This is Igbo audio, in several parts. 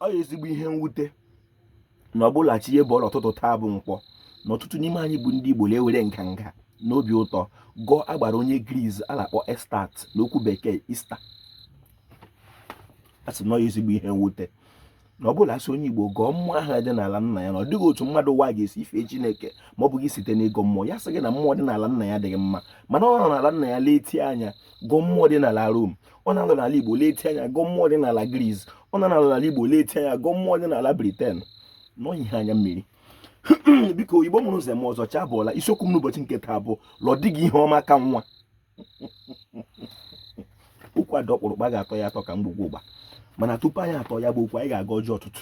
ọ ya ezigbo ihe mwute na ọbụla chi ihe bọọla ụtụtụ taa bụ nkwọ na ọtụtụ n'ime anyị bụ ndị Igbo na-ewere nganga n'obi ụtọ gọọ agbara onye Gris a na-akpọ Astarte n'okwu bekee Easter a sị na ya ezigbo ihe mwute na ọ bụla a sị onye Igbo gọọ mmụọ ahụ dị n'ala nna ya na ọ dịghị otu mmadụ ụwa ga-esi efe chineke ma ọ bụghị site n'ịgọ mmụọ ya sị gị na mmụọ dị n'ala nna ya dịghị mma mana ọ nọ n'ala nna ya letie anya gọọ mmụọ dị n'ala rom ọ na-anọ n'ala Igbo leti anya gọọ mmụọ dị n'ala Gris ọ na-anọ n'ala Igbo leti anya gọọ mmụọ dị n'ala Briten na ọ wụ ihe anya mmiri biko Igbo mụrụ zụọ m ọzọ chi abọọla isiokwu m n'ụbọchị nke taa bụ la ọ dịghị ihe ọma ka nwa okwu a dị ọkpụrụkpụ a ga-atọ ya atọ ka ngwugwu ụgba mana tupu anyị atọọ ya bụ okwu anyị ga-agọ ọjị ụtụtụ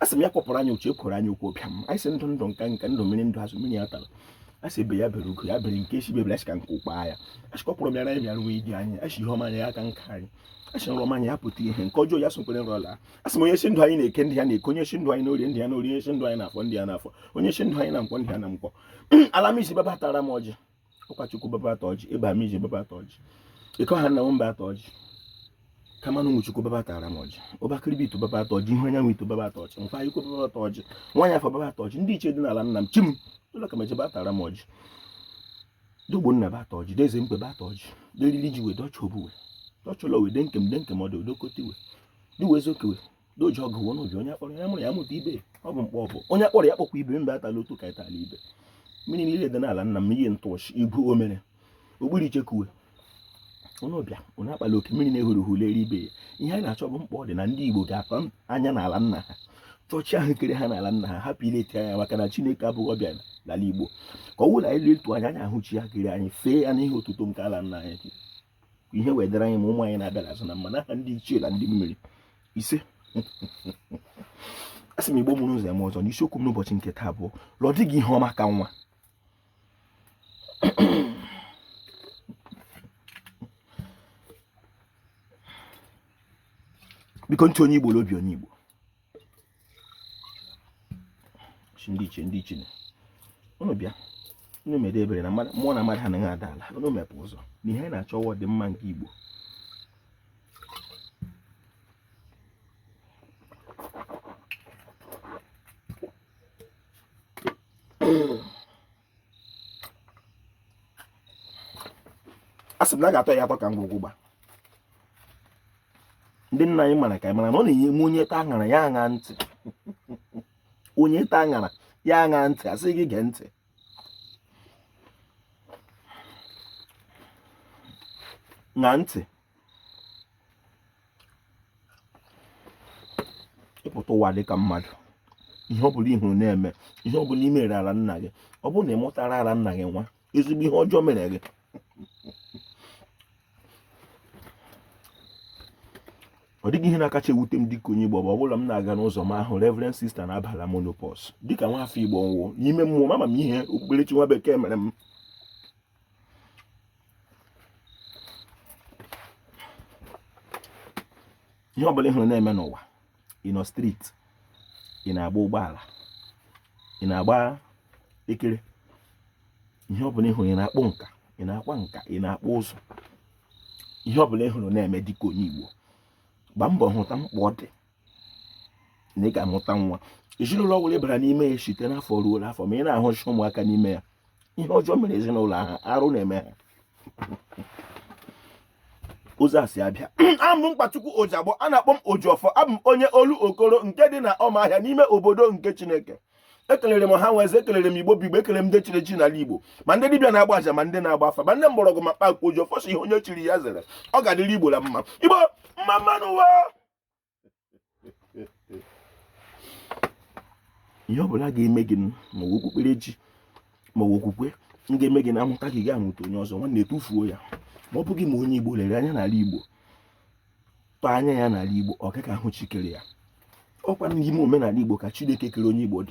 a sị m ya kpọpụrụ anyị uche ekworo anyị okwu ọbịa m anyị sị ndụ ndụ nka nka ndụ mmiri ndụ azụ mmiri ya atala a sị egbe ya bere ugo ya bere nke sị ibe ebela a sị ka nku kwaa ya a sị kpọpụrụ bịara anyị bịara wee di anyị a sị ihe ọma anyị ya aka nka anyị a sị nrọ ọma anyị ya pụta ihe nke ọjọọ ya sokwere nrọ laa a sị m onye sị ndụ anyị n'eke ndụ ya n'eke onye sị ndụ anyị n'orie ndụ ya n'orie onye sị ndụ anyị n'afọ ndụ ya n'afọ onye sị ndụ anyị na nkwọ ndụ ya na nkwọ ala m isi bịa bịa taara m ọjị ụkọchukwu bịa bịa taa ọjị ịba m ije bịa bịa taa ọjị ịkọ ha nna m bịa taa ọjị kamanụ nwa chukwu bịa bịa taara m ọjị ọbakịrịbị ito bịa bịa taa ọjị ihe anyanwụ ito bịa bịa taa ọjị mfa ikwu bịa bịa taa ọjị nwaanyị afọ bịa bịa taa ọjị ndị ichie dị n'ala nna m chi m ụlọ ka meje bịa taara m ọjị De Ogbonna bịa taa ọjị De Eze mkpe bịa taa ọjị deriri ji wee dọcha obuwe dọchọlọ wee De Nkem De Nkem ọdụ odokotiwe diwe zokewe doji ọgụ wụ n'obi onye a kpọrọ ya mụrụ ya mụta ibe ọ bụ mkpọ ọbụ onye a kpọrọ ya kpọkwa ibe mba atala otu ka ịtala ibe mmiri niile dị n'ala nna m ihe ntụọchị ibu omere ogbiri ichekuwe onye ọbịa onye akpala oke mmiri na-ehuru hụrụ eri ibe ya ihe a na-achọ bụ mkpọ dị na ndị Igbo ga-akpa anya n'ala nna ha chọọ chi ahụ kere ha n'ala nna ha hapụ ileti anya maka na Chineke abụghị ọbịa n'ala Igbo ka ọ wụla anyị letuo anya anyị ahụ chi ya kere anyị fee ya n'ihe otuto nke ala nna anyị ihe wee dịrị anyị ma ụmụ anyị na-abịa n'azụ na mma n'aha ndị ichie na ndị mmiri isee a sị m Igbo mụrụ zụọ m ọzọ na isiokwu m n'ụbọchị nke taa bụ la ọ dịghị ihe ọma ka nwa biko ntị onye Igbo obi onye Igbo ndị ichie ndị ichie ụnụ bịa ụnụ mede ebere na mmụọ na mmadụ anaghị ada ala ụnụ mepe ụzọ na ihe a na-achọ wụ ọdịmma nke Igbo a sị m na a ga-atọ ya atọ ka ngwugwu ụgba ndị nna anyị mara ka anyị mara na ọ na-enye m onye taa aṅara ya ṅaa ntị onye taa aṅara ya ṅaa ntị a sị gị gee ntị ṅaa ntị ịpụta ụwa dị ka mmadụ ihe ọ bụla ị hụrụ na-eme ihe ọ bụla i meere ala nna gị ọ bụrụ na ị mụtara ala nna gị nwa ezigbo ihe ọjọọ mere gị ọ dịghị ihe na-akacha ewute m dịka onye Igbo mgbe ọ bụla m na-aga n'ụzọ m ahụ Reverend Sister na-abala menopause dịka nwa afọ Igbo nwụọ n'ime mmụọ m ama m ihe okpukperechi nwa bekee mere m ihe ọbụla ị hụrụ na-eme n'ụwa ị nọ street ị na-agba ụgbọala ị na-agba ekere ihe ọbụla ị hụrụ ị na-akpụ nka ị na-akwa nka ị na-akpụ ụzụ ihe ọbụla ị hụrụ na-eme dịka onye Igbo gbaa mbọ hụta mkpa ọ dị na ị ga-amụta nwa ezinụlọ ọbụla ị bara n'ime ya site n'afọ ruo n'afọ ma ị na-ahụcha ụmụaka n'ime ya ihe ọjọọ mere ezinụlọ ahụ arụ na-eme ha ụzọ a si abịa abụ m Nkwachukwu Ojigbo a na-akpọ m Ojiọfọ abụ m onye Olokoro nke dị na Ọmahịa n'ime obodo nke Chineke ekelere m ọha na eze ekelere m igbo bụ igbo ekelere m ndị chiri echichi n'ala igbo ma ndị dibịa na-agba aja ma ndị na-agba afa ma ndị mgbọrọgwụ ma mkpa akwụkwọ Ojiọfọ sị ihe onye chiri ya zere ọ ga-adịrị igbo na mma igbo mma mma nụ ụwa ihe ọbụla ga-eme gị ma ọ okpukperechi ma ọ okwukwe m ga-eme gị na a mụta gị ị gaghị amụta onye ọzọ nwanne tufuo ya ma ọ bụghị ma onye igbo lere anya n'ala igbo tọọ anya ya n'ala igbo ọ gaghị ahụ chi kere ya ọkwa n'ime omenala igbo ka chineke kere onye igbo dị